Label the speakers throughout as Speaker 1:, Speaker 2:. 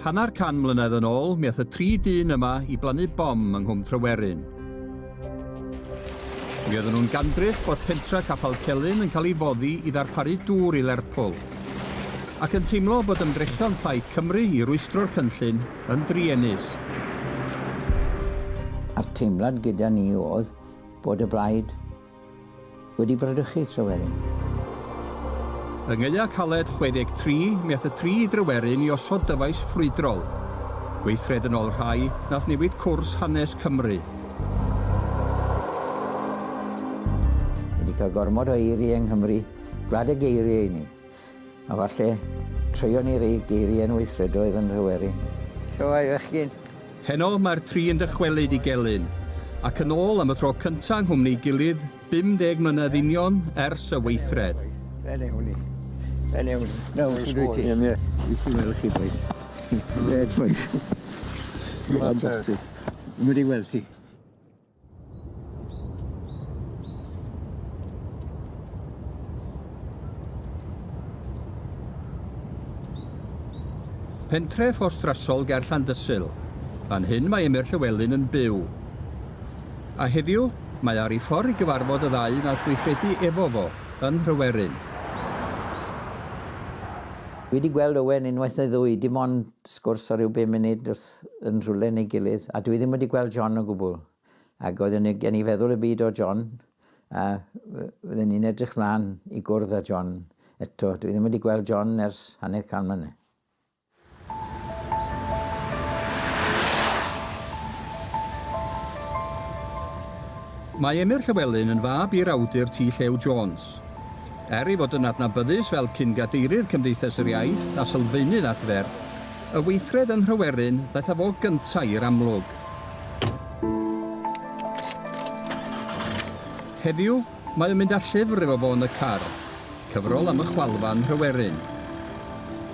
Speaker 1: Hanner can mlynedd yn ôl, mi ath y tri dyn yma i blannu bom yng Nghwm Tryweryn. Mi oedden nhw'n gandryll bod pentra Capal Celyn yn cael ei foddi i ddarparu dŵr i Lerpwl, ac yn teimlo bod ymdrechion Plaid Cymru i rwystro'r cynllun yn druenus.
Speaker 2: A'r teimlad gyda ni oedd bod y Blaid Wedi bradychu, Tryweryn.
Speaker 1: Yng Ngaeaf Caled 63 mi ath y tri i Dryweryn i osod dyfais ffrwydrol. Gweithred yn ôl rhai, nath newid cwrs hanes Cymru.
Speaker 2: Ni 'di cael gormod o eirie yng Nghymru, gwlad y geirie i ni. A falle, treion ni rei geiriau yn weithredoedd yn Nhryweryn. Shwmae fechgyn. Heno mae'r
Speaker 1: tri yn dychwelyd i Gelyn, ac yn ôl am y tro cynta' yng nghwmni'i gilydd 50 mlynedd union ers y weithred. Fel
Speaker 2: ewn ni. Fel ewn ni. Nawr, shwd wyt ti? Ie, ie. Jyst i weld chi bois. Ie, bois. Fantastic. Wedi weld ti.
Speaker 1: Pentref orstrasol ger Llandysul. Fan hyn mae Emyr Llywelyn yn byw. A heddiw, mae ar ei ffordd i gyfarfod y ddau nath weithredu efo fo, yn Nhryweryn.
Speaker 2: Wedi gweld Owen unwaith neu ddwy, dim ond sgwrs o ryw bum munud wrth yn rhywle neu gilydd, a dwi ddim wedi gweld John o gwbl. Ac oedd yn gen i feddwl y byd o John, a fydden ni'n edrych mlaen i gwrdd â John eto. Dwi ddim wedi gweld John ers hanner can mlynedd.
Speaker 1: Mae Emyr Llywelyn yn fab i'r awdur T. Llew Jones. Er ei fod yn adnabyddus fel cyn-gadeirydd Cymdeithas yr Iaith a sylfaenydd adfer, y weithred yn Nhryweryn ddaeth â fo gyntaf i'r amlwg. Heddiw, mae o'n mynd â llyfr efo fo yn y car, cyfrol am y chwalfa yn Nhryweryn.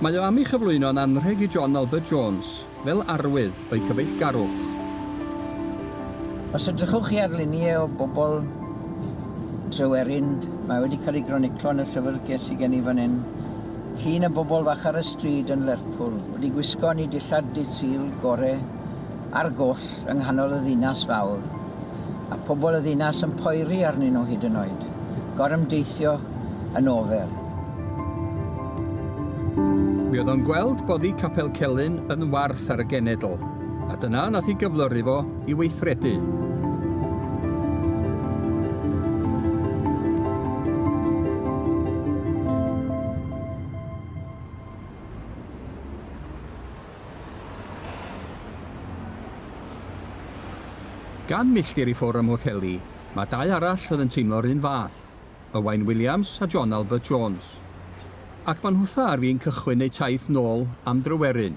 Speaker 1: Mae o am ei chyflwyno'n anrheg i John Albert Jones. Fel arwydd o'u cyfeillgarwch.
Speaker 2: Os edrychwch chi ar luniau o bobl Tryweryn, mae wedi cael ei groniclo yn y llyfrgell sy gen i fan hyn, llun o bobl fach ar y stryd yn Lerpwl, wedi gwisgo ni dillad dydd Sul gore ar goll yng nghanol y ddinas fawr, a phobl y ddinas yn poeri arnyn nhw hyd yn oed, gorymdeithio yn ofer.
Speaker 1: Mi oedd o'n gweld boddi Capel Celyn yn warth ar y genedl, a dyna nath i gyflyru fo i weithredu. Gan milltir i ffwr' ym Mhwllheli, mae dau arall oedd yn teimlo'r un fath. Owain Williams a John Albert Jones, ac maen nhwtha ar fin cychwyn eu taith nôl am Dryweryn.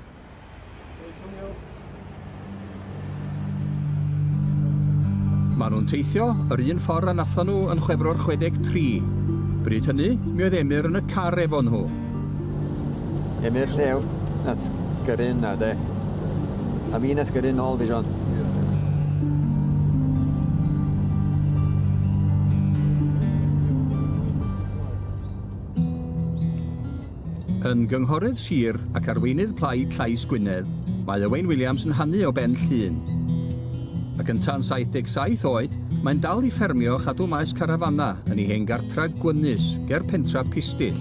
Speaker 1: Maen nhw'n teithio yr un ffordd a nathon nhw yn Chwefror 63. Bryd hynny, mi oedd Emyr yn y car efo nhw.
Speaker 3: Ym i'r llew, nath gyrru yna de. A fi nath gyrru nôl di John.
Speaker 1: Yn gynghorydd sir ac arweinydd Plaid Llais Gwynedd, mae Owain Williams yn hanu o Ben Llŷn. Ac yn tan 77 oed, mae'n dal i ffermio a chadw maes carafanau yn ei hen Tra Gwynus, ger pentra Pistyll.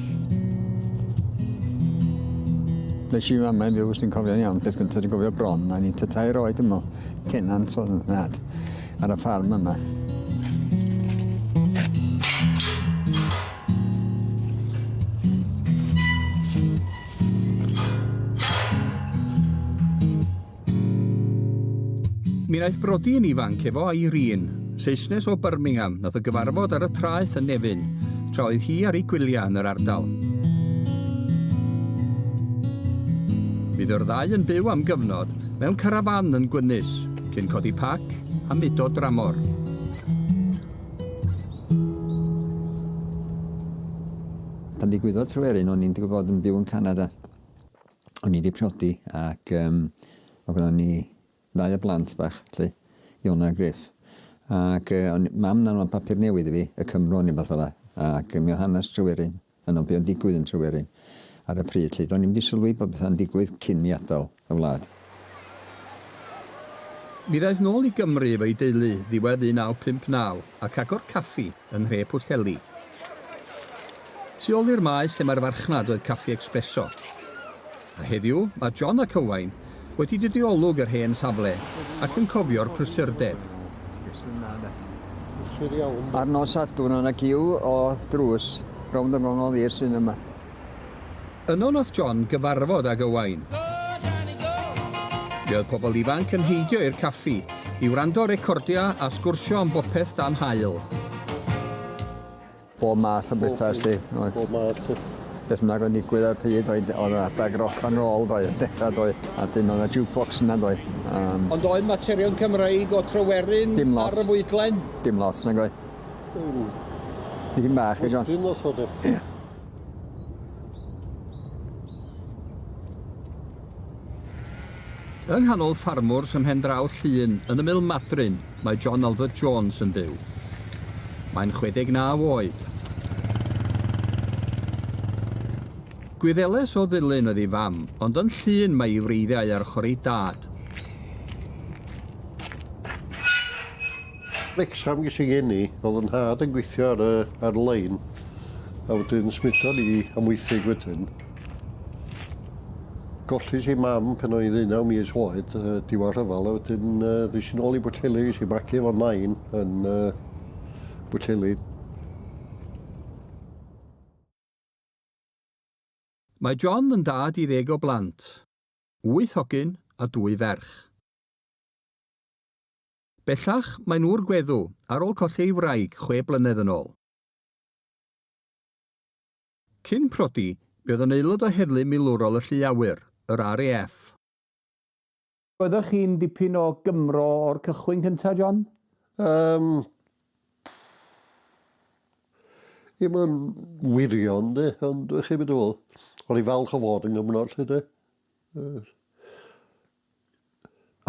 Speaker 3: Nes i mam yn fyw, sy'n cofio'n iawn, peth gyntaf sy'n gofio bron, a ni'n tair oed yma, tenant o'n nhad, ar y ffarm yma.
Speaker 1: Mi wnaeth brodi yn ifanc efo Irene, Saesnes o Birmingham, nath o gyfarfod ar y traeth yn Nefyn, tra oedd hi ar ei gwyliau yn yr ardal. Mi fu'r ddau yn byw am gyfnod mewn carafan yn Gwynys, cyn codi pac a mudo dramor.
Speaker 3: Pan ddigwyddodd Tryweryn, o'n i'n digwydd bod yn byw yn Canada. o'n i wedi priodi ac um, o gyda ni ddau o blant bach, lle, Iona a Griff. Ac uh, o'n, mam na'n o'n papur newydd i fi, y Cymro neu beth fel ac mi oedd hanes Tryweryn, yn o'n beth o'n digwydd yn Tryweryn ar y pryd, lle, do'n i'n wedi sylwi bod bethau'n digwydd cyn i adael y wlad.
Speaker 1: Mi ddaeth nôl i Gymru efo'i deulu ddiwedd 1959 ac agor caffi yn nhre Pwllheli. Tu ôl i'r maes lle mae'r farchnad oedd Caffi Expresso. A heddiw, mae John ac Owain wedi dod i olwg yr hen safle ac yn cofio'r prysurdeb.
Speaker 3: Ar nos Sadwrn o' 'na giw o drws rownd y Ngongoli'r sinema.
Speaker 1: Yno nath John gyfarfod ag Owain. Mi oedd pobl ifanc yn heidio i'r caffi, i wrando recordia a sgwrsio am bopeth dan haul.
Speaker 3: Bob math o betha felly oedd. Bob math o. Beth bynnag oedd yn digwydd ar y pryd oedd oedd adag rock and roll doedd yn dechra doedd a dim oedd y jukebox yna doedd. Um, Ond oedd
Speaker 1: materion Cymreig o Tryweryn ar y fwydlen? Dim lot nag
Speaker 3: oedd. Dim bach, John. Dim lot o de.
Speaker 1: Yng nghanol ffarmwrs ym mhendraw Llŷn yn ymyl Madryn mae John Albert Jones yn byw. Mae'n 69 oed. Gwyddeles o Ddulyn oedd ei fam, ond yn Llŷn mae ei wreiddiau ar ochr ei dad.
Speaker 4: Wrecsam ges i geni, o'dd 'yn nhad yn gweithio ar y ar lein a wedyn symudon ni i Amwythig wedyn. Gollais i mam pan o'n i ddeunaw mis oed yy diwadd rhyfel a wedyn yy ddes i nôl i Bwllheli ges i magu efo nain yn yy Bwllheli.
Speaker 1: Mae John yn dad i ddeg o blant, wyth hogyn a dwy ferch. Bellach, maen nhw o'r gweddw, ar ôl colli ei wraig chwe blynedd yn ôl. Cyn prodi, mi oedd yn aelod o Heddlu Milwrol y Llu Awyr, yr RAF.
Speaker 5: Oeddech chi'n dipyn o Gymro o'r cychwyn cynta, John? Yym.
Speaker 4: Ddim yn wirion, 'de, ond chi'n gwybod be dwi'n feddwl. O'n i'n falch o fod yn Gymro, 'lly, 'de. Yy.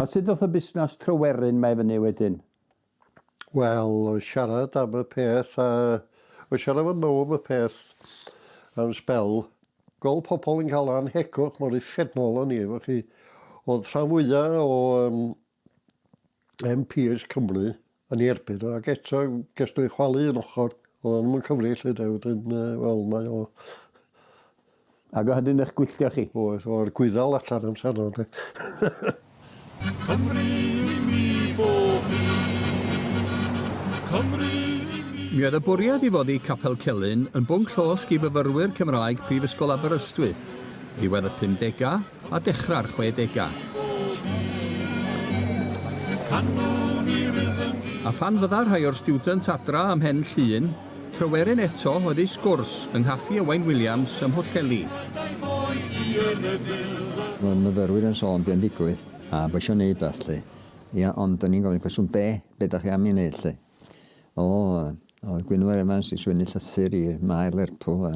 Speaker 5: A sut ddoth y busnas Tryweryn 'ma i fyny wedyn?
Speaker 4: Wel, o siarad am y peth a o siarad efo nhw am y peth am sbel, gweld pobl yn cael anhegwch mor uffernol o'n i efo chi, o'dd rhan fwya o yym MPs Cymru yn ei erbyn o, ac eto ges dwy chwalu yn ochr, oedd o'n ddim yn cyfri lle de, wedyn uh, wel mae o...
Speaker 5: Ac o hynny'n eich gwylltio chi? Oedd, o'r gwyddal
Speaker 4: allan yn sano de. Cymru
Speaker 6: i mi bob Cymru Mi oedd y
Speaker 1: bwriad i foddi Capel Celyn yn bwnc llosg i fyfyrwyr Cymraeg Prifysgol Aberystwyth ddiwedd y 50au, a dechrau'r chwedegau. A phan fydda rhai o'r stiwdent adra ym Mhen Llŷn, Tryweryn eto oedd eu sgwrs yng nghaffi Owain Williams ym Mhwllheli.
Speaker 3: Roedd y myfyrwyr yn sôn be' yn digwydd a bo' isio neud wbath 'lly. Ia, ond o'n i'n gofyn y cwestiwn, be'? Be' 'dach chi am 'i neud 'lly? O, oedd Gwynfor Evans eisiau mynd i llythyr i Maer Lerpwl a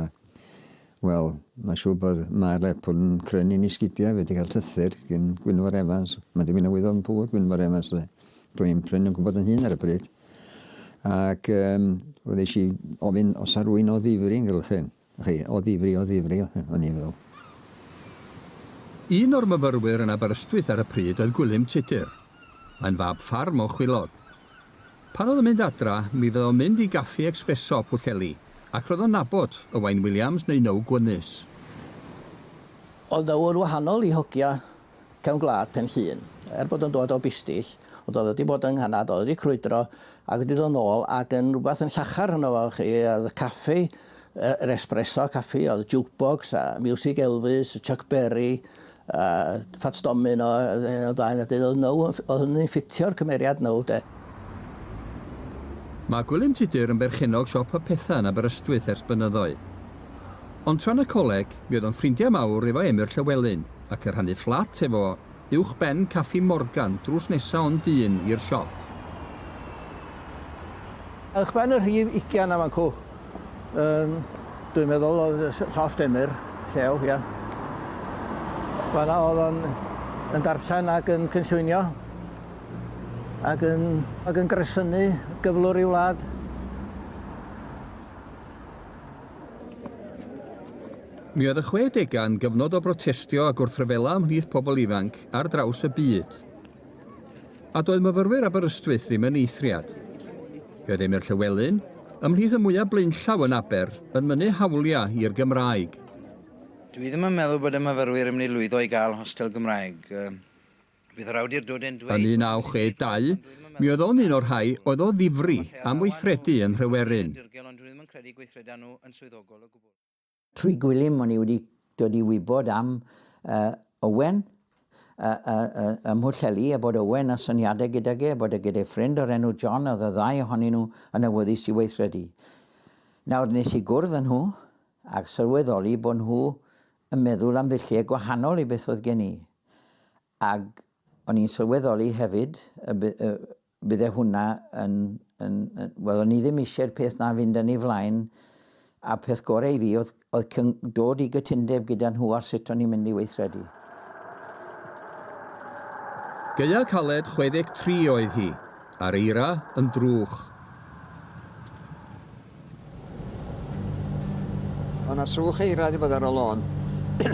Speaker 3: wel, mae'n siŵr bod Maer Lerpwl yn cryn yn ei sgidiau wedi cael llythyr gyn Gwynfor Evans. Mae ddim yn awydd o'n pŵr Gwynfor Evans dde. Dwi'n pryn yn gwybod yn hun ar y bryd. Ac um, wedi eisiau ofyn os ar rwy'n o ddifri yn gylchyn. Chi, o ddifri, o ddifri, o'n i'n meddwl.
Speaker 1: Un o'r myfyrwyr yn Aberystwyth ar y pryd oedd Gwilym Tudur. Mae'n fab ffarm o Chwilod. Pan oedd yn mynd adra, mi fydda o'n mynd i gaffi ecsbreso Pwllheli, ac roedd o'n nabod Owain Williams neu Now Gwynys.
Speaker 2: Oedd nawr wahanol i hogia Cefn Gwlad Pen Llŷn. Er bod o'n dod o bistyll, ond oedd o 'di bod yng Nghanad, oedd o 'di crwydro ac wedi dod nôl ac yn rwbath yn llachar yno fo chi, oedd y caffi, yr espresso caffi, oedd jukebox a miwsig Elvis, Chuck Berry, a Fats Domino, yn y blaen, a oedd now, oedd hynny'n ffitio'r cymeriad now 'de.
Speaker 1: Mae Gwilym Tudur yn berchennog siop y Petha yn Aberystwyth ers blynyddoedd. Ond tra yn y coleg, mi oedd o'n ffrindiau mawr efo Emyr Llywelyn, ac yn rhannu fflat efo uwchben Caffi Morgan drws nesa ond un i'r siop.
Speaker 2: Uwchben y rhif ugian a fancw yn dwi'n meddwl oedd llofft Emyr llew ia. Fanna oedd o'n yn darllen ac yn cynllwynio ac yn ac yn gresynu gyflwr i wlad.
Speaker 1: Mi oedd y chwedegau yn gyfnod o brotestio a gwrthryfela ymhlith pobl ifanc ar draws y byd. A doedd myfyrwyr Aberystwyth ddim yn eithriad. Fe oedd Emyr Llywelyn, ymhlith y mwyaf blaenllaw yn Aber, yn mynnu hawliau i'r Gymraeg. Dw i ddim
Speaker 7: yn meddwl bod y myfyrwyr yn mynd i lwyddo i gael hostel Gymraeg. Bydd yr awdur dod yn dweud...
Speaker 1: Yn 1962, mi oedd o'n un o'r rhai oedd o ddifri am weithredu yn Nhryweryn.
Speaker 2: Trwy Gwilym o'n i wedi dod i wybod am Owen ym Mhwllheli a bod Owen â syniadau gydag e, bod e gyda'i ffrind o'r enw John a oedd y ddau ohonyn nhw yn awyddus i weithredu. Nawr nes i gwrdd â nhw a sylweddoli bod nhw yn meddwl am ddulliau gwahanol i beth oedd gen i. Ac o'n i'n sylweddoli hefyd bydde hwnna yn, yn, yn, wel o'n i ddim eisiau'r peth na fynd yn ei flaen, a peth gorau i fi oedd, oedd dod i gytundeb gyda nhw ar sut o'n i'n mynd i weithredu.
Speaker 1: Gaeaf caled 63 oedd hi, a'r eira yn drwch.
Speaker 3: Mae yna swch eira di bod ar y lôn.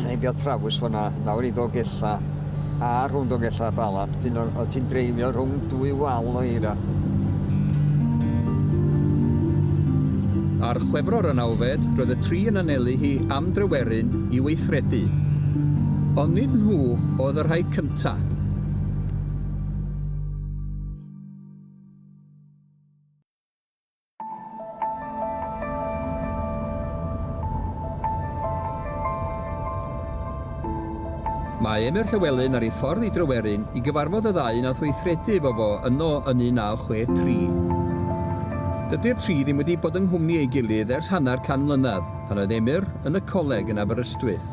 Speaker 3: Ei bio trawys fyna, nawr i Dogella, a rhwng Dogella a Bala. Dyn o ti'n dreifio rhwng dwy wal o eira.
Speaker 1: Ar chwefror y nawfed, roedd y tri yn anelu hi am drewerin i weithredu. Ond nid nhw oedd y rhai cynta. Mae Emyr Llywelyn ar ei ffordd i Dryweryn i gyfarfod y ddau wnaeth weithredu efo fo yno yn 1963. Dydy'r tri ddim wedi bod yng nghwmni ei gilydd ers hanner can mlynedd, pan oedd Emyr yn y coleg yn Aberystwyth.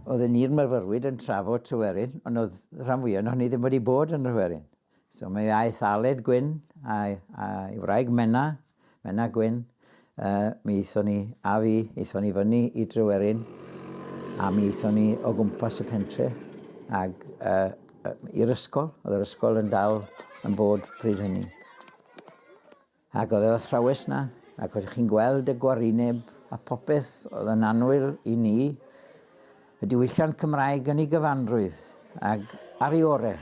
Speaker 2: Oedden ni'r myfyrwyr yn trafod Tryweryn, ond oedd rhan fwya ohonon ni ddim wedi bod yn Nhryweryn. So mi aeth Aled Gwyn a'i wraig Menna, Menna Gwyn, mi aethon ni, a fi, aethon ni fyny i Dryweryn a mi aethon ni o gwmpas y pentre ag i'r ysgol, oedd yr ysgol yn dal yn bod pryd hynny. Ac oedd yr athrawes 'na, ac oeddech chi'n gweld y gwarineb a popeth oedd yn annwyl i ni, y diwylliant Cymraeg yn ei gyfanrwydd, ac ar ei ore',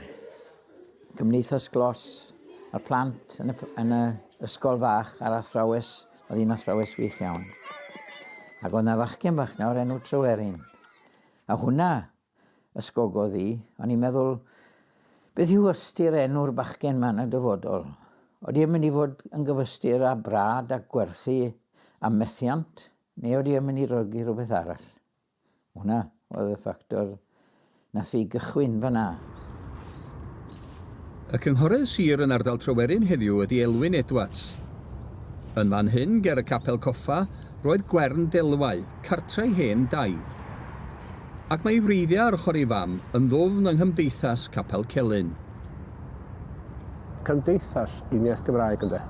Speaker 2: Cymdeithas Glos, y plant yn y, yn y ysgol fach, a'r athrawes, oedd hi'n athrawes wych iawn. Ac oedd 'na fachgen fach 'na o'r enw Tryweryn. A hwnna ysgogodd hi. O'n i'n meddwl, 'Beth yw ystyr enw'r bachgen 'ma yn y dyfodol? Odi e'n mynd i fod yn gyfystyr â Brad a Gwerthu a Methiant, neu odi e'n mynd i rogi rhywbeth arall? Hwnna oedd y ffactor nath fi gychwyn fan'na.
Speaker 1: Y Cynghorydd Sir yn ardal Tryweryn heddiw ydy Elwyn Edwards. Yn fan hyn, ger y Capel Coffa, roedd Gwern Delwau, cartre ei hen daid. Ac mae ei wreiddiau ar ochr ei fam yn ddwfn yng nghymdeithas Capel Celyn.
Speaker 8: Cymdeithas uniaith Gymraeg ynde.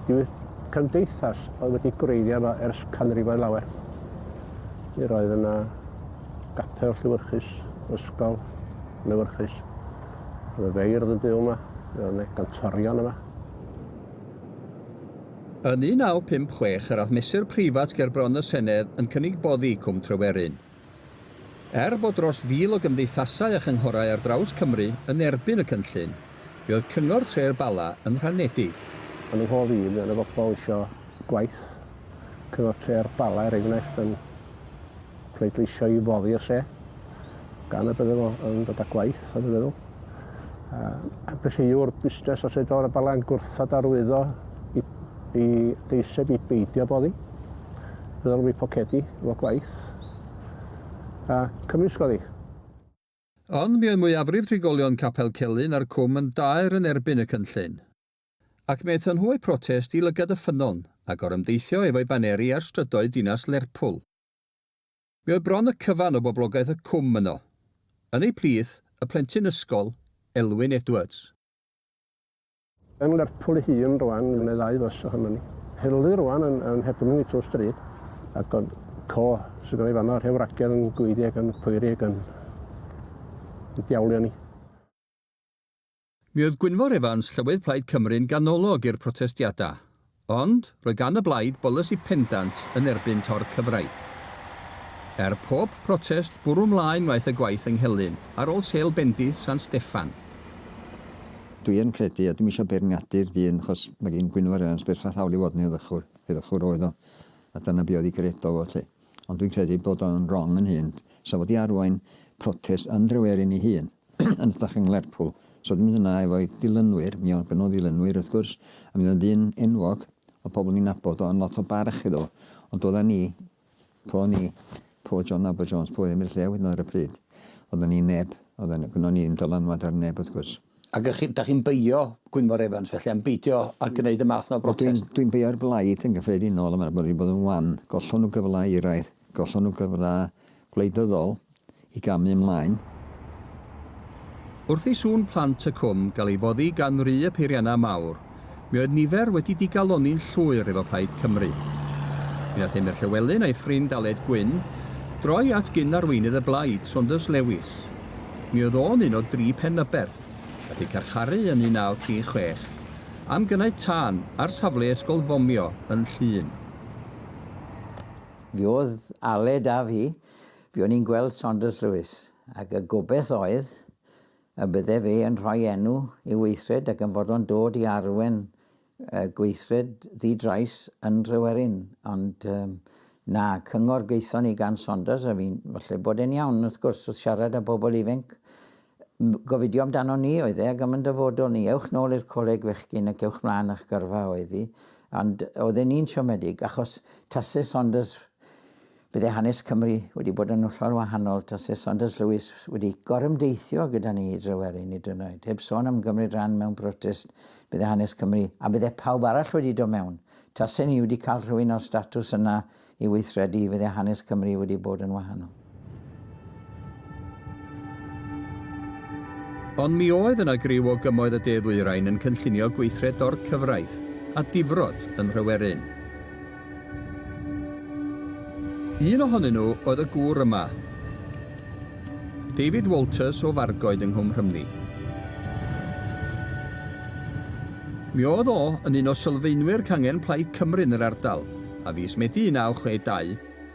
Speaker 8: Dyw'r cymdeithas oedd wedi gwreiddio yma ers canrifoedd lawer. Mi roedd yna Capel Llewyrchus, Ysgol Lewyrchus. Oedd y feirdd yn byw yma, oedd yna gantorion yma.
Speaker 1: Yn 1956 yr oedd mesur preifat ger bron y Senedd yn cynnig boddi Cwm Tryweryn. Er bod dros fil o gymdeithasau a chynghorau ar draws Cymru yn erbyn y cynllun, Fe oedd Cyngor Tre'r Bala yn rhanedig. Yn fy nghof i,
Speaker 8: mi oedd 'na bobl isio gwaith Cyngor Tre'r Bala, er enghraifft, yn pleidleisio i foddi'r lle, gan y bydde fo yn dod â gwaith, o'n i'n meddwl. A, a felly yw'r busnes o Tre'r Bala Bala'n gwrthod arwyddo i, i deiseb i beidio boddi, fel mi pocedi efo gwaith, a cymysgodd i.
Speaker 1: Ond mi oedd mwyafrif trigolion Capel Celyn a'r Cwm yn daer yn erbyn y cynllun. Ac mi aethon nhw a'u protest i lygad y ffynnon, a gorymdeithio efo'u baneri ar strydoedd dinas Lerpwl. Mi oedd bron y cyfan o boblogaeth y Cwm yno. Yn eu plith, y plentyn ysgol, Elwyn Edwards.
Speaker 8: Yn Lerpwl ei hun rwan, mae ddau fys o hynny. Hurley rwan yn, yn Hepnwng i Tŵr Stryd, ac o'n co sydd gynna i fanno, rhew ragedd yn gweiddi ac yn poeri ac yn, yn diawlio ni.
Speaker 1: Mi oedd Gwynfor Evans, Llywydd Plaid Cymru'n ganolog i'r protestiadau. Ond roedd gan y blaid bolisi pendant yn erbyn tor-cyfraith. Er pob protest, bwrw 'mlaen wnaeth y gwaith yng Nghelyn, ar ôl sêl bendith San Steffan.
Speaker 3: Dwi yn credu, a dwi'm isio beirniadu'r dyn, achos mae gin Gwynfor Evans berffaith hawl i fod yn heddychwr, heddychwr oedd o, a dyna be oedd ei gredo fo 'lly. Ond dwi'n credu bod o'n rong yn hyn. Sa fo di arwain protest yn Drewerin i hun, yn hytrach yng Nglerpwl. Sa fo di mynd yna efo'i dilynwyr, mi o'dd gynno fo ddilynwyr wrth gwrs, a mi o'dd o'n ddyn enwog, o'dd pobl ni'n nabod o yn lot o barch iddo fo. Ond doeddan ni, po ni, po John Nabod Jones, po Emyr Llew hyd yn o'd ar y pryd, oeddan ni neb, oeddan, gynno ni ddim dylanwad ar neb wrth gwrs. Ac ych chi, da chi'n
Speaker 5: beio Gwynfor Evans felly, am beidio a gwneud y math yna o brotest? Wel dwi'n, dwi'n beio'r blaid
Speaker 3: yn gyffredinol am yr bod wedi bod yn wan. Gollon nhw gyfle i raedd, gollon nhw gyfle gwleidyddol i gamu ymlaen.
Speaker 1: Wrth i sŵn plant y cwm gael ei foddi gan ry y peiriannau mawr, Mi oedd nifer wedi digalonni'n llwyr efo Plaid Cymru. Mi nath Emyr Llewelyn a'i ffrind Aled Gwynn droi at gyn-arweinydd y blaid, Saunders Lewis. Mi oedd o'n un o dri Penyberth nath eu carcharu yn 1936 am gynnau tân ar safle ysgol fomio yn Llŷn.
Speaker 2: Mi oedd Aled a fi, fuon ni'n gweld Saunders Lewis, ac y gobeth oedd, A bydde fe yn rhoi enw i'w weithred ac yn fod o'n dod i arwen gweithred ddi-drais yn Nhryweryn. Ond na, cyngor gaethon ni gan Saunders, a fi'n, falle bod e'n iawn, wrth gwrs, wrth siarad â bobl ifenc, gofidio amdanon ni oedd e ac am yn dyfodol ni. Ewch nôl i'r coleg fechgyn ac ewch mlaen â'ch gyrfa oedd hi. Ond oedd e'n un siomedig, achos tase Saunders Byddai hanes Cymru wedi bod yn hollol wahanol tase Saunders Lewis wedi gorymdeithio gyda ni i Drewerin hyd yn oed, heb sôn am gymryd rhan mewn protest, byddai hanes Cymru, a byddai pawb arall wedi dod mewn. Tase ni wedi cael rhywun o'r statws yna i weithredu, fyddai hanes Cymru wedi bod yn wahanol.
Speaker 1: Ond mi oedd yna griw o gymoedd y de-ddwyrain yn cynllunio gweithred dor-cyfraith a difrod ym Mhryweryn. Un ohonyn nhw oedd y gŵr yma, David Walters o Fargoed yng Nghwm Rhymni. Mi oedd o yn un o sylfaenwyr cangen Plaid Cymru yn yr ardal, a fis Medi 1962,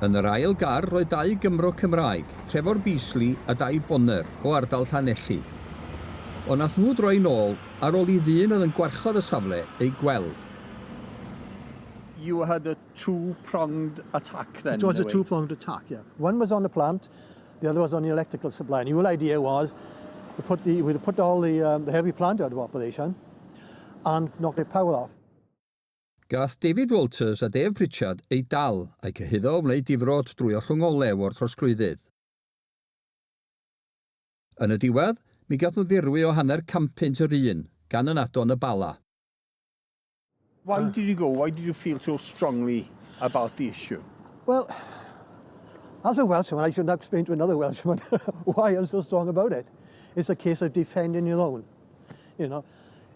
Speaker 1: Yn yr ail gar roedd dau Gymro Cymraeg, Trevor Beasley a Dai Bonner o ardal Llanelli. Ond nath nhw droi nôl ar ôl i ddyn oedd yn gwarchod y safle eu gweld.
Speaker 5: You had a two pronged attack then. It was a two pronged attack,
Speaker 9: yeah. One was on the plant, the other was on the electrical supply. And the whole idea was, we put the, we put all the, um, the heavy plant out of operation and knock the power off. Gath
Speaker 1: David Walters a Dave Pritchard eu dal, a'u cyhuddo o wneud difrod drwy ollwng olew o'r trosglwyddydd. Yn y diwedd, mi gath nhw ddirwy o hanner canpunt yr un, gan ynado yn y Bala.
Speaker 5: Why did you go? Why did you feel so strongly about the issue?
Speaker 9: Well, as a Welshman, I shouldn't have to explain to another Welshman why I'm so strong about it. It's a case of defending your own, you know.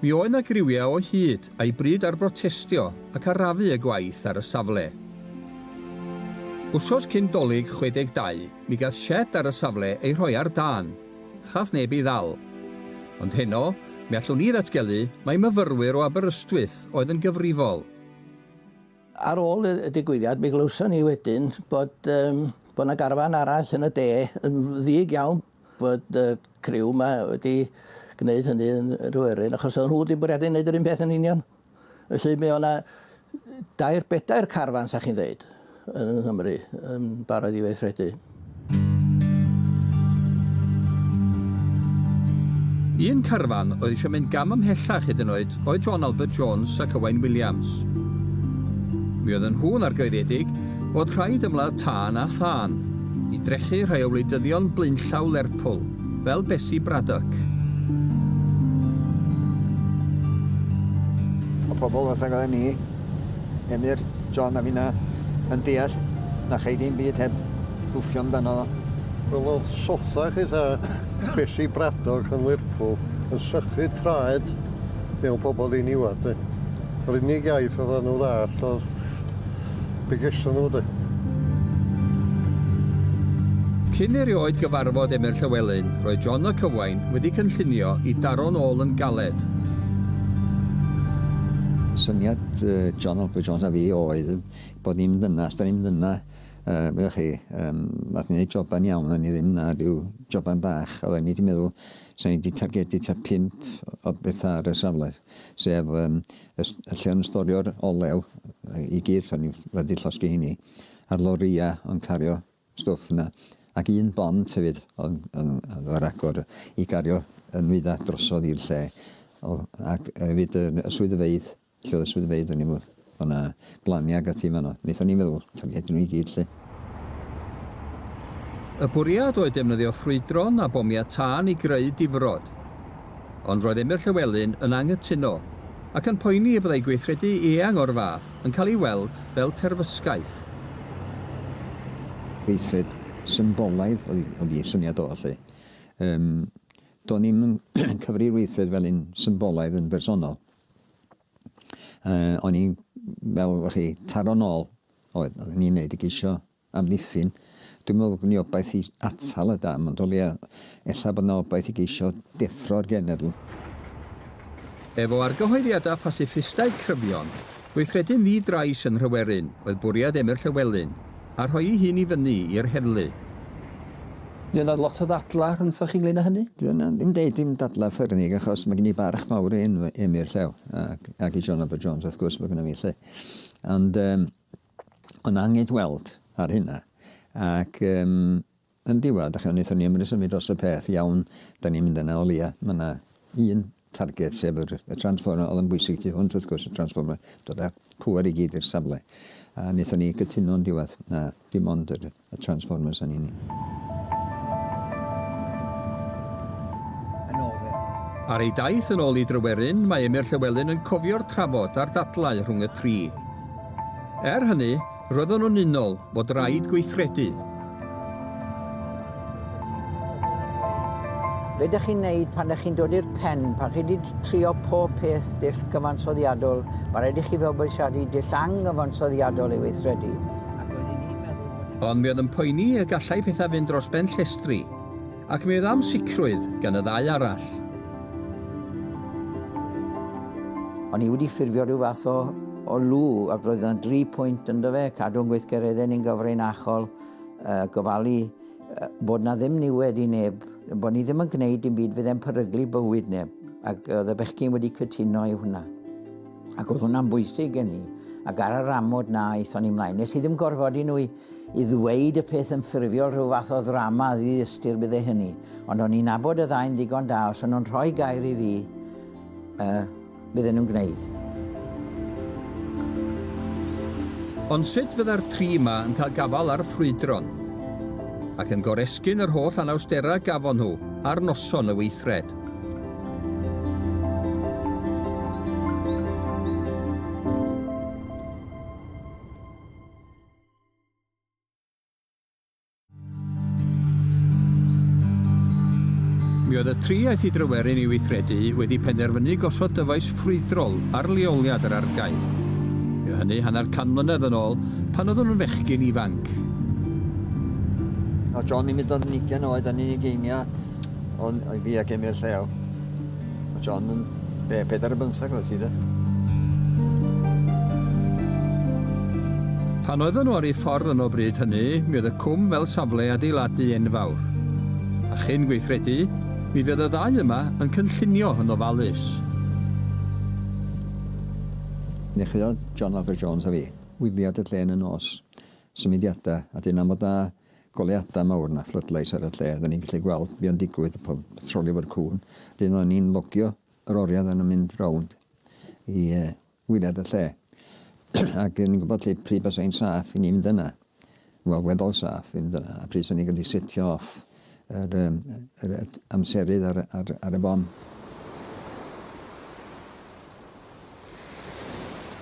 Speaker 1: Mi oedd 'na griwiau o hyd a'i bryd ar brotestio ac arafu y gwaith ar y safle. Wsos cyn Dolig 62, mi gath sied ar y safle ei rhoi ar dân. Chath neb ei ddal. Ond heno, mi allwn ni ddatgelu mai myfyrwyr o Aberystwyth oedd yn gyfrifol.
Speaker 2: Ar ôl y digwyddiad, mi glywson ni wedyn bod, yym, bod 'na garfan arall yn y de, yn ddig iawn, bod y criw 'ma wedi gneud hynny yn Nhryweryn achos oedd nhw wedi bwriadu neud yr un peth yn union. Felly mi o' 'na dair bedair carfan sa chi'n ddeud yn Nghymru yn barod i weithredu.
Speaker 1: Un carfan oedd eisiau mynd gam ymhellach hyd yn oed oedd John Albert Jones ac Owain Williams. Mi oedden nhw'n argyhoeddedig bod rhaid ymladd tân a thân, i drechu rhai o wleidyddion blaenllaw Lerpwl, fel Bessie Braddock.
Speaker 3: Mae pobl fatha gyda ni, Emyr, John a finna, yn deall na chei dim byd heb gwffio amdano fo. Wel, oedd
Speaker 4: sotha chi ta Bessie Braddock yn Lerpwl yn sychu traed mewn pobl ddiniwad, de. Yr unig iaith oedden nhw ddall oedd Be geson nhw de?
Speaker 1: Cyn erioed gyfarfod Emyr Llywelyn, roedd John y Cywain wedi cynllunio i daro'n ôl yn galed.
Speaker 3: Syniad John Ogwen Jones a fi oedd bod ni'n mynd yna, os da ni'n mynd yna, uh, meddwl chi, um, nath ni wneud joban iawn, o'n ni ddim na rhyw joban bach, oedden ni wedi meddwl, sa'n ni wedi targedu ta pimp o bethau ar y safle. sef um, lle o'n storio'r olew i gyd, o'n i'n wedi llosgi hynny, a'r loria o'n cario stwff yna, ac un bond hefyd o'n, o'n, o'n ar agor i gario y nwyddau drosodd i'r lle, o, ac hefyd y, y swyddfeydd, lle oedd y swyddfeydd o'n i'n Oedd 'na blaniau ac ati yn fan'no. Wnaethon ni feddwl, 'sa ni'n rhaid i nhw i gyd 'lly.
Speaker 1: Y bwriad oedd defnyddio ffrwydron a bomiau tân i greu difrod. Ond roedd Emyr Llywelyn yn anghytuno, ac yn poeni y byddai gweithredu eang o'r fath yn cael ei weld fel terfysgaeth.
Speaker 3: Gweithred symbolaidd oedd ei syniad o 'lly. Do'n i'm yn cyfri'r weithred fel un symbolaidd yn bersonol. Yy o'n i'n fel o' chi taro nôl oedd o'n i'n neud i geisio amddiffyn dwi'm me'wl bo' gin i obaith i atal y dam ond o leia ella bod 'na obaith i geisio deffro'r genedl.
Speaker 1: Efo argyhoeddiada pasiffistaidd cryfion, gweithredu'n ddi-drais yn Nhryweryn oedd bwriad Emyr Llywelyn. a rhoi'i hun i fyny i'r heddlu. Fydd
Speaker 2: yna lot o ddadlau rhyngthoch chi ynglŷn â hynny? Dwi yna ddim deud dim
Speaker 3: dadlau ffyrnig achos mae gen i barch mawr i Enw- Emyr Llew ac ac i John Robert Jones wrth gwrs mae gynna fi 'lly. Ond yym o'n angyd weld ar hynna ac yym Yn diwedd, dach chi'n wneud hynny am resymau dros y peth, iawn, dan ni'n mynd yna, o leia, mae yna un target, sef yr, y transformer, oedd yn bwysig tu hwnt, wrth gwrs, y transformer, dod â pŵer i gyd i'r safle. A wnaethon ni gytuno'n diwedd, na, dim ond yr, y transformers yn unig.
Speaker 1: Ar ei daith yn ôl i Dryweryn, mae Emyr Llywelyn yn cofio'r trafod a'r ddadlau rhwng y tri. Er hynny, Roeddwn yn unol fod raid gweithredu.
Speaker 2: Be dych chi'n neud pan dych chi'n dod i'r pen, pan chi di trio pob peth dull gyfansoddiadol, mae rhaid i chi fabwysiadu dull anghyfansoddiadol i weithredu, ac roedd un i'n meddwl bod
Speaker 1: hynny. Ond mi oedd yn poeni y gallai pethau fynd dros ben llestri. Ac mi oedd amsicrwydd gan y ddau arall.
Speaker 2: O'n i wedi ffurfio rhyw fath o, o lw ac roedd yna dri pwynt ynddo fe, cadw'n gweithgareddau ni'n gyfrinachol, uh, gofalu uh, bod na ddim niwed i neb, bod ni ddim yn gwneud dim byd fydd e'n peryglu bywyd neb. Ac oedd y bechgyn wedi cytuno i hwnna. Ac oedd hwnna'n bwysig gen i. Ac ar yr amod na, eithon ni mlaen. Nes i ddim gorfod i nhw i I ddweud y peth yn ffurfiol, rhyw fath o ddrama ddi-ystyr byddai hynny, ond o'n i'n nabod y ddau'n ddigon da, os o'n nhw'n rhoi gair i fi, yy, bydden nhw'n gwneud.
Speaker 1: Ond sut fydda'r tri 'ma yn cael gafael ar ffrwydron? Ac yn goresgyn yr holl anawsterau gafon nhw ar noson y weithred. Mi oedd y tri aeth i Dryweryn i weithredu wedi penderfynu gosod dyfais ffrwydrol ar leoliad yr argae. Mi oedd hynny hanner can mlynedd yn ôl, pan oeddwn yn fechgyn ifanc.
Speaker 3: O John, mi dod yn ugen oed yn unig einiau o'n fi ac Emyr llew. Mae John yn... Be, pedair yn bymthag oedd ti, de?
Speaker 1: Pan oedden nhw ar ei ffordd yn o bryd hynny, mi oedd y cwm fel safle adeiladu enfawr. A chyn gweithredu, mi fydd y ddau yma yn cynllunio yn ofalus.
Speaker 3: Nechreuodd John Laffer Jones a fi wyliad y dlen yn nos. Symudiadau, a dyn am fod na goleuadau mawr na floodlights ar y lle, oedden ni'n gallu gweld be o'n digwydd a pawb yn trolio fo'r cŵn. Wedyn oedden ni'n logio yr oriau oedden nhw'n mynd rownd i uh, wylad y lle. Ac yn gwybod lle pryd bys ein saff i ni fynd yna. Wel, weddol saff i fynd yna. A pryd sy'n ni'n gallu setio off Yr, um, yr amserydd ar, ar, ar y bom.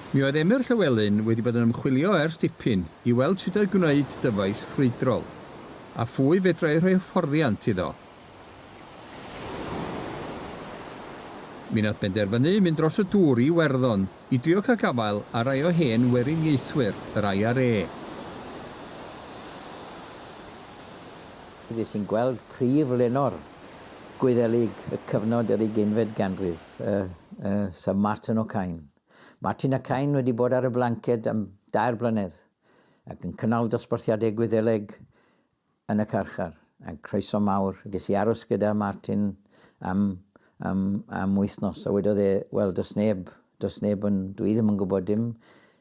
Speaker 1: Mi oedd Emyr Llywelyn wedi bod yn ymchwilio ers dipyn i weld sut oedd gwneud dyfais ffrwydrol, a phwy fedrai rhoi hyfforddiant iddo. Mi nath benderfynu mynd dros y dŵr i Iwerddon i drio cael gafael ar rai o hen weriniaethwyr yr IRA.
Speaker 2: Dw i'n gweld prif lenor Gwyddelig y cyfnod yr ugeinfed ganrif, y y Sir Martin O'Kine. Martin O'Kine wedi bod ar y blanced am dair blynedd ac yn cynnal dosbarthiadau Gwyddeleg yn y carchar, a croeso mawr. Ges i aros gyda Martin am am am wythnos a wedodd e, wel does neb does neb yn dw i ddim yn gwybod dim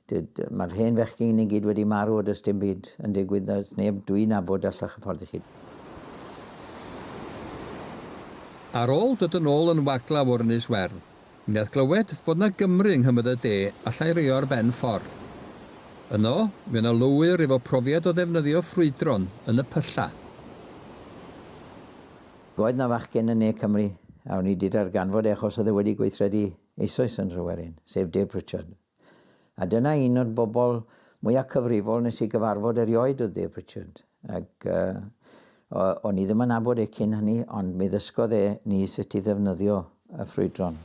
Speaker 2: Dyd, mae'r hen fechgyn i gyd wedi marw a does dim byd yn digwydd, does neb dwi'n nabod allech hyfforddi chi.
Speaker 1: Ar ôl dod yn ôl yn waglaw o'r Ynys Werdd, mi nath glywed fod 'na Gymry yng Nghymoedd y De allai roi o ar ben ffor. Yno, mi o' 'na lwyr efo profiad o ddefnyddio ffrwydron yn y pylla.
Speaker 2: Roedd 'na fachgen yn Ne Cymru, a o'n i 'di darganfod e achos oedd e wedi gweithredu eisoes yn Nhryweryn, sef Dave Pritchard. A dyna un o'r bobl mwya cyfrifol nes i gyfarfod erioed oedd Dave Pritchard. Ac uh, o'n i ddim yn abod e cyn hynny, ond mi ddysgodd e ni sut i ddefnyddio y ffrwydron.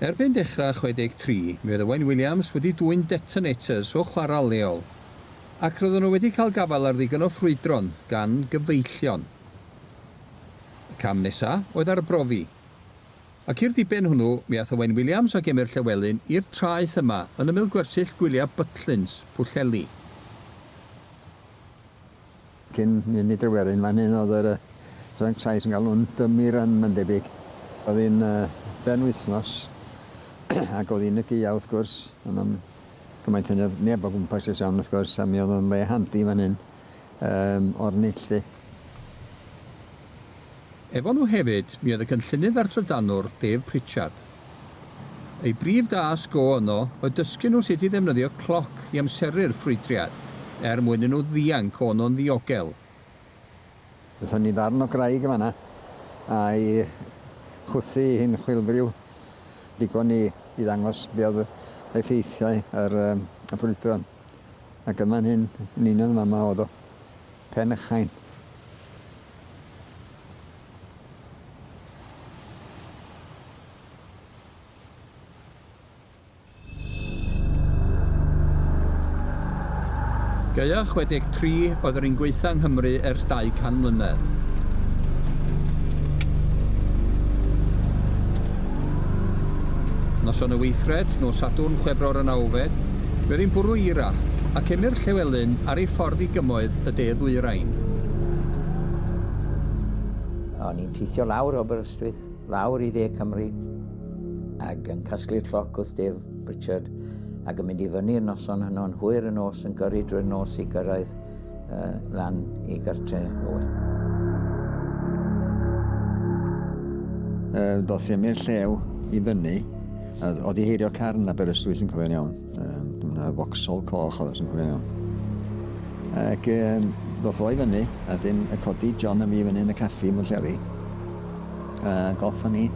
Speaker 1: Erbyn dechrau 63, mi oedd Owain Williams wedi dwyn detonators o chwarel leol, ac roedden nhw wedi cael gafael ar ddigon o ffrwydron gan gyfeillion. Y cam nesa oedd arbrofi. Ac i'r diben hwnnw mi ath Owain Williams ac Emyr Llewelyn i'r traeth yma yn ymyl gwersyll gwyliau Butlins, Pwllheli.
Speaker 3: Cyn mynd i Dryweryn fan hyn oedd yr Ffrainc Sais yn galw'n Dummy Run mae'n debyg. Oedd hi'n ben wythnos ac oedd hi'n y gaeau wrth gwrs, ond am gymaint hynny oedd neb o gwmpas i'r sian wrth gwrs a mi oedd o'n le handi fan hyn Yym, o'r neilltu.
Speaker 1: Efo nhw hefyd mi oedd y Cynllunydd a'r Trydanwr, Dave Pritchard. Eu brif dasg o yno oedd dysgu nhw sut i ddefnyddio cloc i amseru'r ffrwydriad, er mwyn i nhw ddianc o yno'n ddiogel.
Speaker 3: Aethon ni ddarn o graig yn fan'na, a'i chwythu hi'n chwilfriw, digon i i ddangos be oedd effeithiau yr yym y ffrwydron. Ac yn fan hyn, yn union yn fama o'dd o. Pen y Chain.
Speaker 1: Gaea 63 oedd yr un gwaetha yng Nghymru ers 200 mlynedd. Noson y weithred, nos Sadwrn, Chwefror y nawfed, Bydd hi'n bwrw eira, ac emyr Llewelyn ar ei ffordd i gymoedd y de ddwyrain.
Speaker 2: O'n i'n teithio lawr Aberystwyth, lawr i dde Cymru, ac yn casglu'r lloc wrth Dave Pritchard, ac yn mynd i fyny'r noson hwnnw'n hwyr y nos yn gyrru drwy'r nos i gyrraedd uh, lan i gartre Owen. Uh,
Speaker 3: doth i'r llew i fyny, a oedd i heirio carn na Berystwyth yn cofio'n iawn. Uh, Dyna focsol coch oedd yn cofio'n iawn. Ac um, doth o i fyny, a dyn y codi John a mi fyny yn y caffi mwyn lleri. A golfa ni.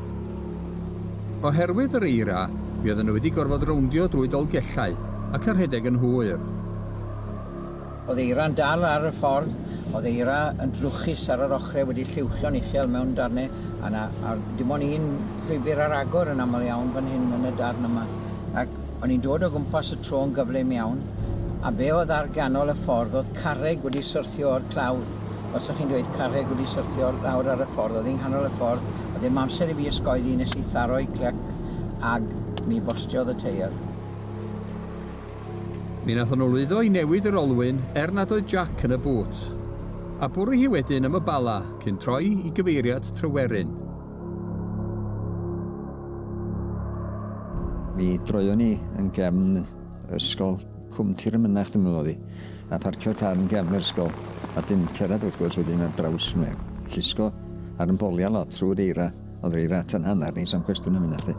Speaker 1: Oherwydd yr eira, mi oedden nhw wedi gorfod rowndio drwy dolgellau ac yr rhedeg yn hwyr.
Speaker 2: Oedd eira'n dal ar y ffordd, oedd eira yn drwchus ar yr ochrau wedi lliwchio'n uchel mewn darnau, a 'na, a dim ond un llwybr ar agor yn aml iawn fan hyn yn y darn yma. Ac o'n i'n dod o gwmpas y tro'n gyflym iawn, a be oedd ar ganol y ffordd oedd carreg wedi syrthio o'r clawdd. Os o'ch chi'n dweud carreg wedi syrthio lawr ar y ffordd, oedd hi nghanol y ffordd, oedd dim amser i fi ysgoeddi nes i tharo'i clyc ag mi bostiodd y teiar.
Speaker 1: Mi nathon nhw lwyddo i newid yr olwyn er nad oedd jac yn y bŵt. A bwri hi wedyn am y Bala cyn troi i gyfeiriad Tryweryn.
Speaker 3: Mi droion ni yn gefn ysgol Cwm Tir y Mynach dwi'n meddwl oedd hi, a parcio'r car yn gefn yr ysgol, a dim cerdded wrth gwrs wedyn ar draws Llysgo, a'r ymbolia lot trwy'r eira. Oedd rei rat yn hanner neis am cwestiwn am hynna 'lly.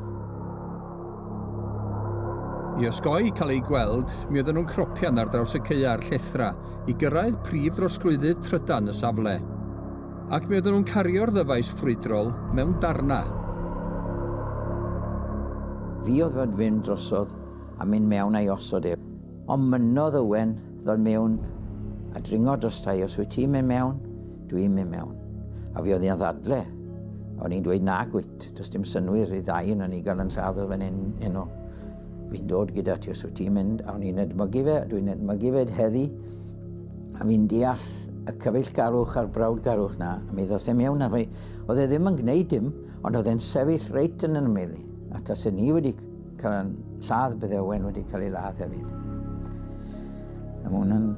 Speaker 1: I osgoi cael eu gweld, mi oedden nhw'n cropian ar draws y caeau a'r llethrau i gyrraedd prif drosglwyddydd trydan y safle. Ac mi oedden nhw'n cario'r ddyfais ffrwydrol mewn darnau.
Speaker 2: Fi oedd fod fynd drosodd a mynd mewn a'i osod ef. Ond mynnodd Owen ddod mewn a dringo drosta i, os wyt ti'n mynd mewn, Dwi'n mynd mewn. A fi oedd i'n ddadle. O'n i'n dweud nag wyt, does dim synwyr i ddau yn ni gael yn lladd o fan hyn enw. Fi'n dod gyda ti os wyt ti'n mynd, a o'n i'n edmygu fe, dwi'n edmygu fe heddi, a fi'n deall y cyfeillgarwch a'r brawdgarwch na, a mi ddoth e mewn a fi, oedd e ddim yn gwneud dim, ond oedd e'n sefyll reit yn yn mili, a tas e ni wedi cael yn lladd bydde Owen wedi cael ei ladd hefyd. A mae hwnna'n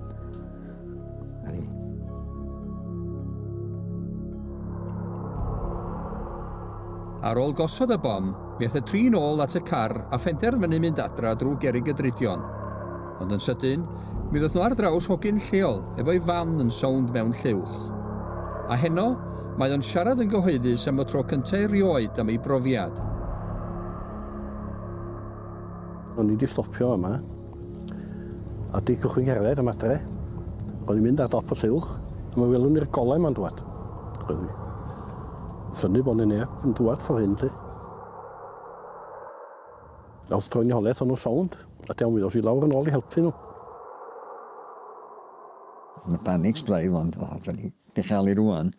Speaker 1: Ar ôl gosod y bom, mi ath y tri'n ôl at y car a phenderfynu mynd adra drwy gerig y dridion. Ond yn sydyn, mi ddod nhw ar draws hogyn lleol efo'i fan yn sownd mewn llewch. A heno, mae o'n siarad yn gyhoeddus am y tro cyntaf erioed am ei brofiad.
Speaker 8: O'n i wedi stopio yma, A di cychwyn cerdded am adre. Roedd hi'n mynd ar dop y lliw, a mi welwn ni'r golau ma'n dŵad. Roedd hi. Syni bod ni neb yn dŵad ffordd hyn, lly. Nawr dro'n i holeth o'n nhw sownd, a diawn mi ddos i lawr yn ôl i helpu nhw.
Speaker 3: Yn y panic sbraidd, ond o, da ni di chael i rwan.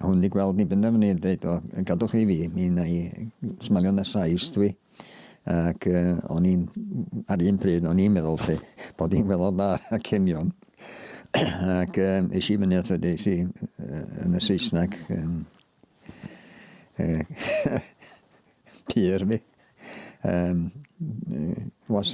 Speaker 3: A hwn di gweld ni benderfynu dweud, o, gadwch i fi, mi na i smalio na sais dwi. Ac uh, o'n i'n, ar un pryd, o'n i'n meddwl lle, bod i'n meddwl da a cenion. Ac um, eis i fyny ato, eis i uh, yn y Saesneg, um, uh, pur mi. Um, was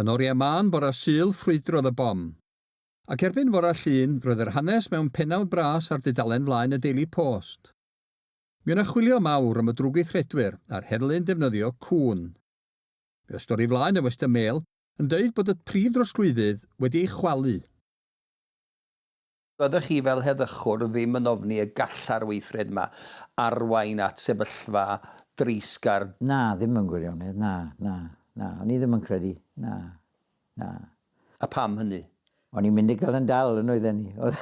Speaker 1: Yn oriau mân bora Sul ffrwydrodd y bom. Ac erbyn fora Llun roedd yr hanes mewn pennawd bras ar dudalen flaen y Daily Post. Mi o' 'na chwilio mawr am y drwgweithredwyr a'r heddlu'n defnyddio cŵn. Mi oedd stori flaen y Western Mail yn deud bod y prif drosglwyddydd wedi ei chwalu.
Speaker 10: Fyddech chi fel heddychwr ddim yn ofni y galla'r weithred 'ma arwain at sefyllfa dreisgar? Na, ddim mewn
Speaker 2: gwirionedd, na, na, na. O'n i ddim yn credu, na, na.
Speaker 10: A pam hynny? O'n i'n mynd i gael
Speaker 2: yn dal, yn oedden i. Oedd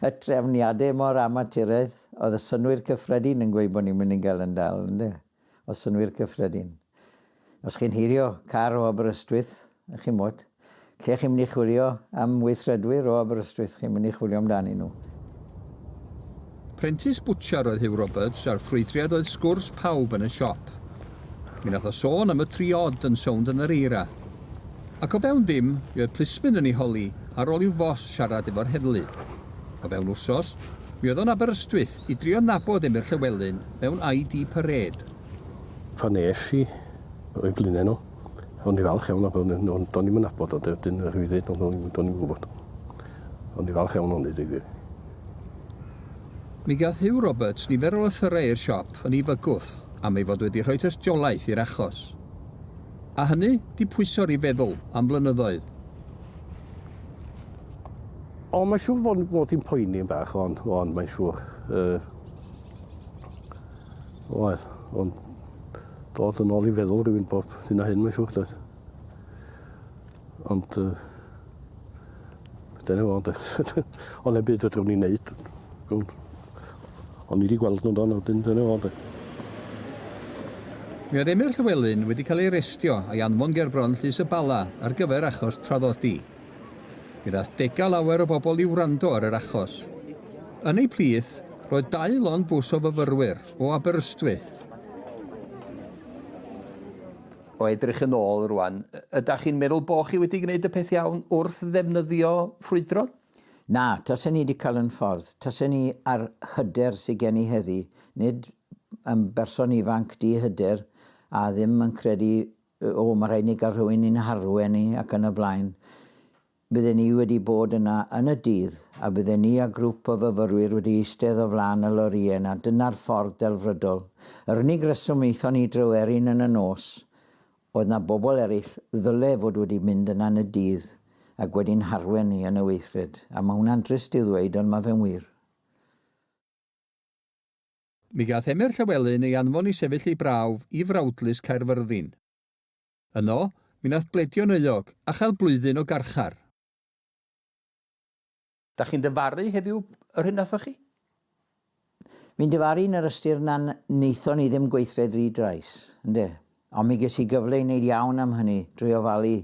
Speaker 2: y trefniadau mor amaturaidd, oedd y synnwyr cyffredin yn gweud bod ni'n mynd i gael yn dal, ynde. o synnwyr cyffredin. Os chi'n heirio car o Aberystwyth, chimod, lle chi'n mynd i chwilio am weithredwyr o Aberystwyth, chi'n mynd i chwilio amdanyn nhw. Prentis
Speaker 1: bwtsiar oedd Huw Roberts a'r ffrwydriad oedd sgwrs pawb yn y siop. Mi nath o sôn am y tri odd yn sownd yn yr eira. Ac o fewn ddim, mi oedd plismyn yn ei holi ar ôl i'w fos siarad efo'r heddlu. O fewn wsos, mi oedd o'n Aberystwyth i drio nabod Emyr Llywelyn. mewn ID Parade. Pan
Speaker 8: es i o'u blaenau nhw, o'n i'n falch iawn, ond do'n i'm yn nabod o, dyn yr wyddyn, ond do'n i'm yn gwybod. O'n i'n falch iawn ohoni, deud gwir.
Speaker 1: Mi gath Huw Roberts nifer o lythyrau i'r siop yn ei fygwth am ei fod wedi rhoi tystiolaeth i'r achos. A hynny 'di pwyso'r i feddwl am flynyddoedd.
Speaker 8: O, mae'n siŵr fod hi'n poeni yn bach, ond mae'n siŵr. Oedd, ond dod yn ôl i feddwl rhywun bob hyn a hyn mae'n siŵr doedd. Ond uh, dyna fo, ond ond e'n byd fedrwn ni'n neud. Ond ni wedi gweld nhw'n dan, wedyn dyna fo, doedd.
Speaker 1: Mi oedd Emyr Llywelyn wedi cael ei arestio a'i anfon gerbron Llys y Bala ar gyfer achos traddodi. Mi ddaeth dega lawer o bobl i wrando ar yr achos. Yn eu plith, roedd dau lond bws o fyfyrwyr o Aberystwyth.
Speaker 10: O edrych yn ôl rwan, ydach chi'n meddwl bo chi wedi gwneud y peth iawn wrth ddefnyddio ffrwydron? Na,
Speaker 2: tasen i 'di cael yn ffordd. Tasen ni a'r hyder sy gen i heddi, nid yn berson ifanc di-hyder a ddim yn credu O, mae rhaid ni gael rhywun i'n harwen ni ac yn y blaen. Bydden ni wedi bod yna yn y dydd, a bydden ni a grwp o fyfyrwyr wedi eistedd o flaen y lorïau yna, dyna'r ffordd delfrydol. Yr unig reswm aethon ni i Dryweryn yn y nos oedd na bobl eraill ddyle fod wedi mynd yna yn y dydd ac wedi'n harwen ni yn y weithred. A mae hwnna'n drist i'w ddweud, ond mae fe'n wir.
Speaker 1: Mi gath Emyr Llywelyn ei anfon i sefyll ei brawf i Frawdlys Caerfyrddin. Yno, mi nath bledio'n euog, a chael blwyddyn o garchar.
Speaker 10: Dach chi'n dyfaru heddiw yr hyn nathoch chi?
Speaker 2: Mi'n dyfaru yn yr ystyr na naethon ni ddim gweithredu drais, ynde. Ond mi ges i gyfle i wneud iawn am hynny drwy ofalu,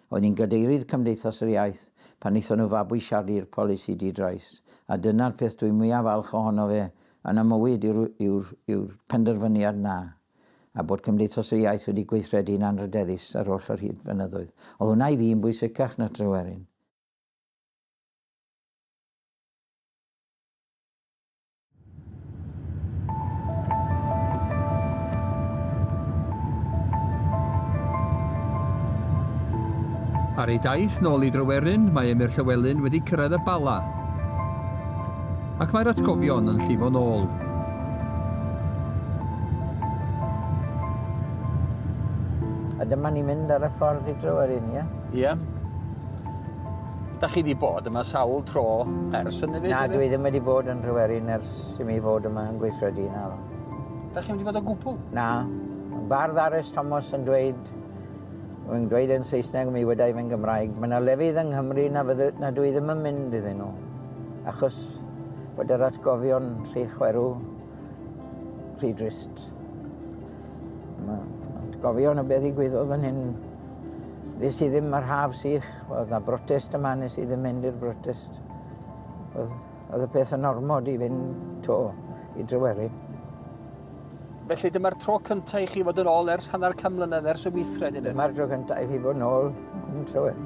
Speaker 2: oedd hi'n gadeirydd Cymdeithas yr Iaith pan wnaethon nhw fabwysiadu'r polisi di-drais, a dyna'r peth dwi mwya' falch ohono fe yn y mywyd yw'r yw'r yw'r penderfyniad 'na, a bod Cymdeithas yr Iaith wedi gweithredu'n anrhydeddus ar oll yr hyd blynyddoedd. Oedd hwnna i fi yn bwysicach na Tryweryn.
Speaker 1: Ar ei daith nôl i Dryweryn, mae Emyr Llywelyn wedi cyrraedd y Bala, ac mae'r atgofion yn llifo nôl.
Speaker 2: A dyma ni'n mynd ar y ffordd i Dryweryn, ie? Ie.
Speaker 10: Da chi wedi bod yma sawl tro ers hynny fyd? Na, dwi ddim wedi bod
Speaker 2: yn Rhywerin ers i mi fod yma yn gweithredu na. Da chi wedi bod
Speaker 10: o gwbl? Na.
Speaker 2: Bardd Aris Thomas yn dweud yn dweud yn Saesneg, mi wedai fe'n Gymraeg, mae yna lefydd yng Nghymru na, fydde, na dwi ddim yn mynd iddyn nhw. Achos bod yr atgofion rhy chwerw, rhy drist. Mae atgofion o beth i gwyddo fan hyn Nes i ddim ar haf sych, oedd na brotest yma, nes i ddim mynd i'r brotest. Oedd, oedd y peth yn ormod i fynd to i Dryweryn.
Speaker 10: Felly dyma'r tro cyntaf i chi fod yn ôl ers hanner can mlynedd ers y weithred, ydyn? Dyma'r tro cyntaf i fi fod yn
Speaker 2: ôl yn Tryweryn.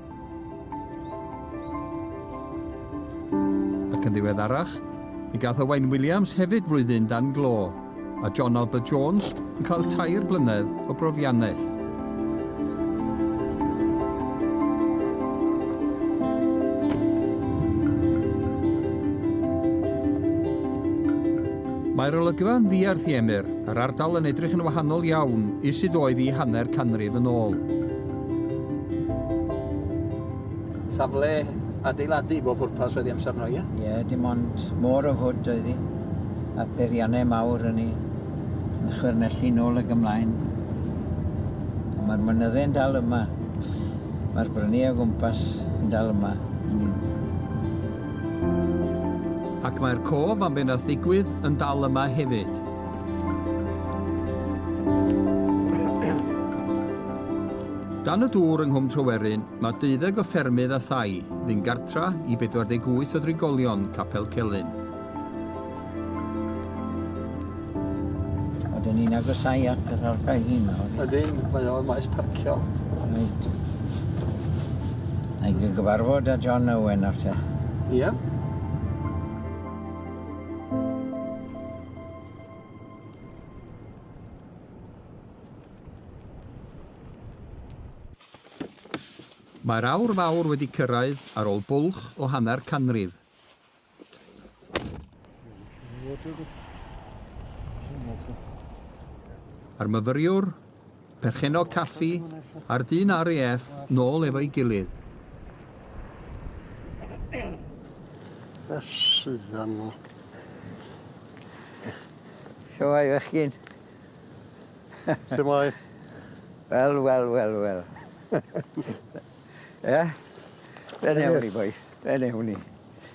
Speaker 1: Ac yn ddiweddarach, mi gath Owain Williams hefyd flwyddyn dan glo, a John Albert Jones yn cael tair blynedd o brofiannaeth. Mae'r olygfa yn ddiarth i Emyr, a'r ardal yn edrych yn wahanol iawn i sut oedd i hanner canrif yn ôl.
Speaker 10: Safle adeiladu i bob pwrpas oedd hi amser yno, ie? Ie, dim ond
Speaker 2: môr o fwd oedd hi, a pheiriannau mawr yn ei yn chwyrnellu nôl ag ymlaen. Ond mae'r mynyddau'n dal yma. Mae'r brynu o gwmpas yn dal yma.
Speaker 1: Ac mae'r cof am be wnaeth ddigwydd yn dal yma hefyd. Dan y dŵr yng Nghwm Tryweryn, mae deuddeg o ffermydd a thai fu'n gartra i 48 o drigolion Capel Celyn.
Speaker 2: Oedden ni'n agosau at yr argae hyn nawr. Ydyn, mae o'r maes
Speaker 10: parcio. Reit.
Speaker 2: A'i gyfarfod â John Owen nawr te. Ie.
Speaker 1: Mae'r aur fawr wedi cyrraedd ar ôl bwlch o hanner canrif. A'r myfyriwr Perchennog caffi a'r dyn RAF nôl efo'i gilydd.
Speaker 4: Ysyddan nhw.
Speaker 2: Siwai fechgyn.
Speaker 4: Siwai. Wel, wel, wel, wel.
Speaker 2: Ie? Fe newn ni, bois. Fe newn ni.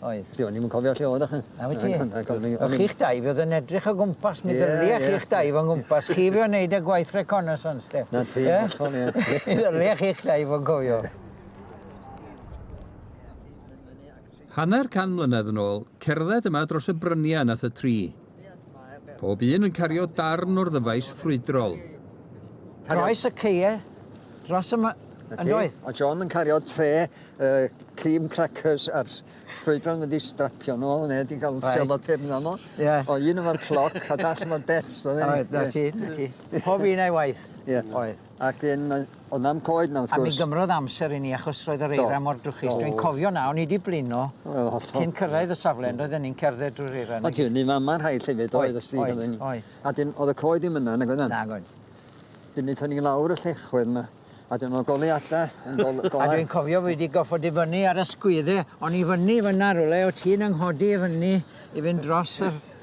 Speaker 2: Oedd. Ti o'n i'm yn cofio lle
Speaker 3: oeddach chi. Na wyt ti?
Speaker 2: O'ch chi'ch dau fi oedd yn edrych o gwmpas mi ddylia chi'ch dau fo'n gwmpas chi fi o'n neud y gwaith reconnaissance de. Na ti hollol ie.
Speaker 3: Mi ddylia chi'ch
Speaker 2: dau fo'n cofio.
Speaker 1: Hanner can mlynedd yn ôl, cerdded yma dros y bryniau nath y tri. Pob un yn cario darn o'r ddyfais ffrwydrol.
Speaker 2: Croes y ceie dros y myndoedd. A John yn cario
Speaker 3: tre uh, cream crackers a'r ffrwydron yn wedi strapio nhw ôl neu wedi cael right. selotip yna nhw. Yeah. O un efo'r cloc a dall efo'r bets. Oedd, na ti, na
Speaker 2: ti. Pob un a'i waith. Yeah. Oedd. Ac yn yy
Speaker 3: o' 'na'm coed 'na wrth gwrs. A mi gymrodd amser i
Speaker 2: ni achos roedd yr eira mor drwchus. Do. Dwi'n cofio 'na o'n i 'di blino. Wel hollol. Cyn cyrraedd y safle on'd oedden ni'n cerdded drwy'r eira 'na i gyd. O' ti fyny fama rhaid
Speaker 3: llefydd oedd os ti oedd oedd oedd. A 'dyn o'dd y coed ddim yna nag oedd e? Nag oedd.
Speaker 2: 'Dyn mi ethon ni
Speaker 3: lawr y llechwedd 'ma a dyma o' goleuada yn gol- golau. A dwi'n
Speaker 2: cofio fi 'di goffod i fyny ar y sgwydde o'n i fyny fynna rywle o' ti'n 'y nghodi i fyny i fynd dros yr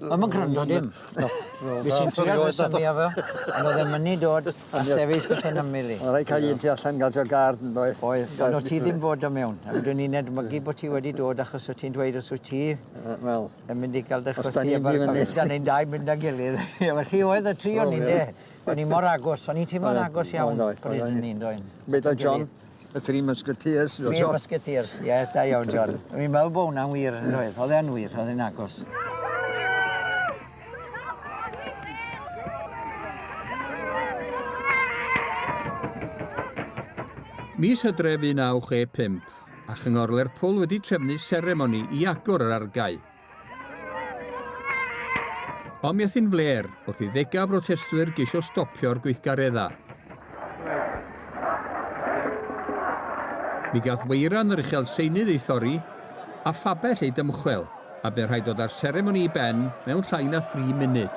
Speaker 4: O'm yn gwrando
Speaker 2: dim. Na. Wel Fues i'n trial fy synnu efo ond o'dd e mynnu dod a sefyll wrth 'yn ymyl i. O' raid ca'l un tu allan
Speaker 3: ga'l jôc gard yndoedd? Oedd. Ond o' ti ddim
Speaker 2: fod do' mewn. A fedrwn i nedmygu bo' ti wedi dod achos o' ti'n dweud os wyt ti... Yy wel. ...yn mynd
Speaker 3: i ga'l dy
Speaker 2: chwythu... Os 'dan ni'n mynd i fyny. Da
Speaker 3: ni'n dau mynd â'n
Speaker 2: gilydd. Wel chi oedd y tri o ni ynde? O'n ni mor agos o'n ni'n timlo'n agos iawn pryd hynny yndoe'n? Meddai John
Speaker 3: Y Three Musketeers. Three Musketeers,
Speaker 2: ie, yeah, da iawn, John. Fi'n meddwl bod hwnna'n wir, yn oedd. Oedd e'n wir, oedd e'n agos.
Speaker 1: Mis hydref 1965, a Chyngor Lerpwl wedi trefnu seremoni i agor yr argae. Ond mi athi'n fler wrth i ddegau brotestwyr geisio stopio'r gweithgareddau. Mi gath weiran yr uchel seinydd ei thorri a phabell ei dymchwel a be rhaid dod â'r seremoni i ben mewn llai na thri munud.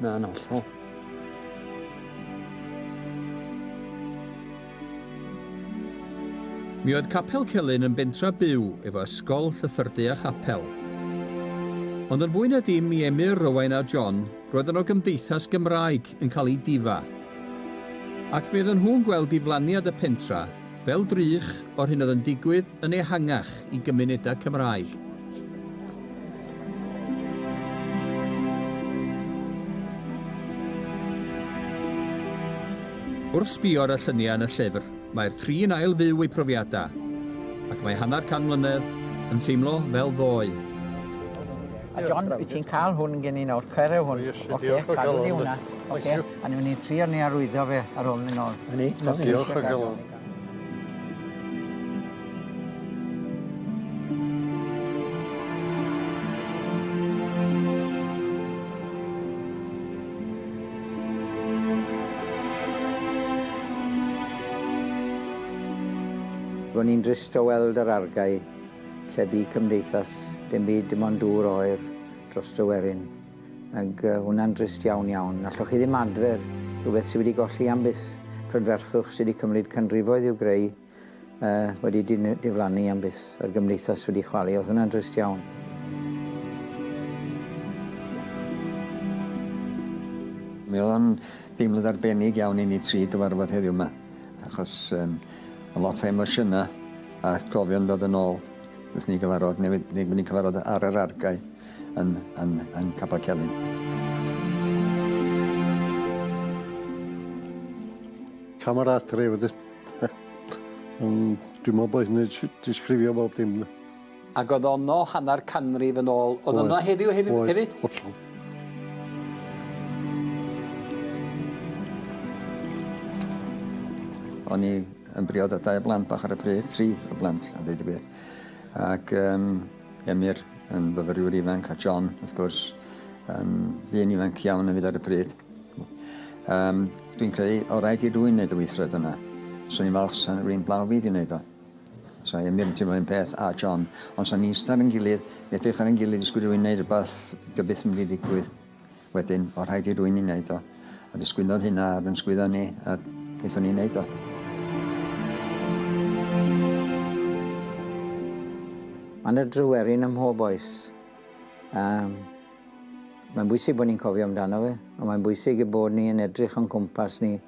Speaker 2: Na, yn
Speaker 3: hollol.
Speaker 1: Mi oedd Capel Celyn yn bentra byw efo ysgol, llythyrdy a chapel. Ond yn fwy na dim i Emyr, Rowain a John, roedd yno gymdeithas Gymraeg yn cael ei difa. Ac mi oedden nhw'n gweld diflaniad y pentra Fel drych o'r hyn oedd yn digwydd yn ehangach i gymunedau Cymraeg. Wrth sbio ar y lluniau yn y llyfr, mae'r tri'n ail fyw eu profiadau, ac mae hanner can mlynedd yn teimlo fel ddoe.
Speaker 2: A John, wyt ti'n cael hwn gen i nawr, cyreu hwn. Oce, cadw ni hwnna. Oce. A newn ni trio ni arwyddo fe ar ôl myn' nôl. 'Na ni. Wel diolch o
Speaker 4: galon.
Speaker 2: Ro'n i'n drist o weld yr argae lle bu cymdeithas dim byd dim ond dŵr oer dros Dryweryn. Ag yy hwnna'n drist iawn iawn. Allwch chi ddim adfer rhywbeth sydd wedi golli am byth, prydferthwch sydd wedi cymryd canrifoedd i'w greu yy wedi diflannu am byth, yr gymdeithas wedi chwalu. Oedd hwnna'n drist iawn.
Speaker 3: Mi oedd o'n deimlad arbennig iawn i ni tri gyfarfod heddiw yma, achos um, a lot o emosiynau a atgofion dod yn ôl wrth ni gyfarfod, neu wedi ni cyfarfod ar yr argae. yn, yn, yn Capel Celyn.
Speaker 4: Camera adre wedyn. Dwi'n meddwl bod hynny'n disgrifio bob dim. Ac oedd ono
Speaker 10: hanner canrif yn ôl. Oedd yna heddiw hefyd? Oedd, hollol.
Speaker 3: O'n i yn briod â dau blant bach ar y pryd, tri o blant, a dweud y gwir. Ac um, Emyr yn fyfyriwr ifanc a John, wrth gwrs, yn ddyn ifanc iawn yn fyd ar y pryd. Um, dwi'n credu, o rhaid i rwy'n wneud y weithred yna. Swn i'n falch sa'n rwy'n blaw fi i wneud o. So i Emyr yn teimlo un peth a John, ond sa'n ni'n star yn gilydd, edrych ar yn gilydd, ysgwyd rwy'n wneud rhywbeth, gybyth mynd i ddigwydd. Wedyn, o' rhaid i rwy'n i wneud o. A disgwynodd hynna ar yn sgwydda ni, a gaethon ni wneud o.
Speaker 2: Mae yna dryweryn ym mhob oes. Um, mae'n bwysig bod ni'n cofio amdano fe, ond mae'n bwysig y bod ni yn edrych o'n cwmpas ni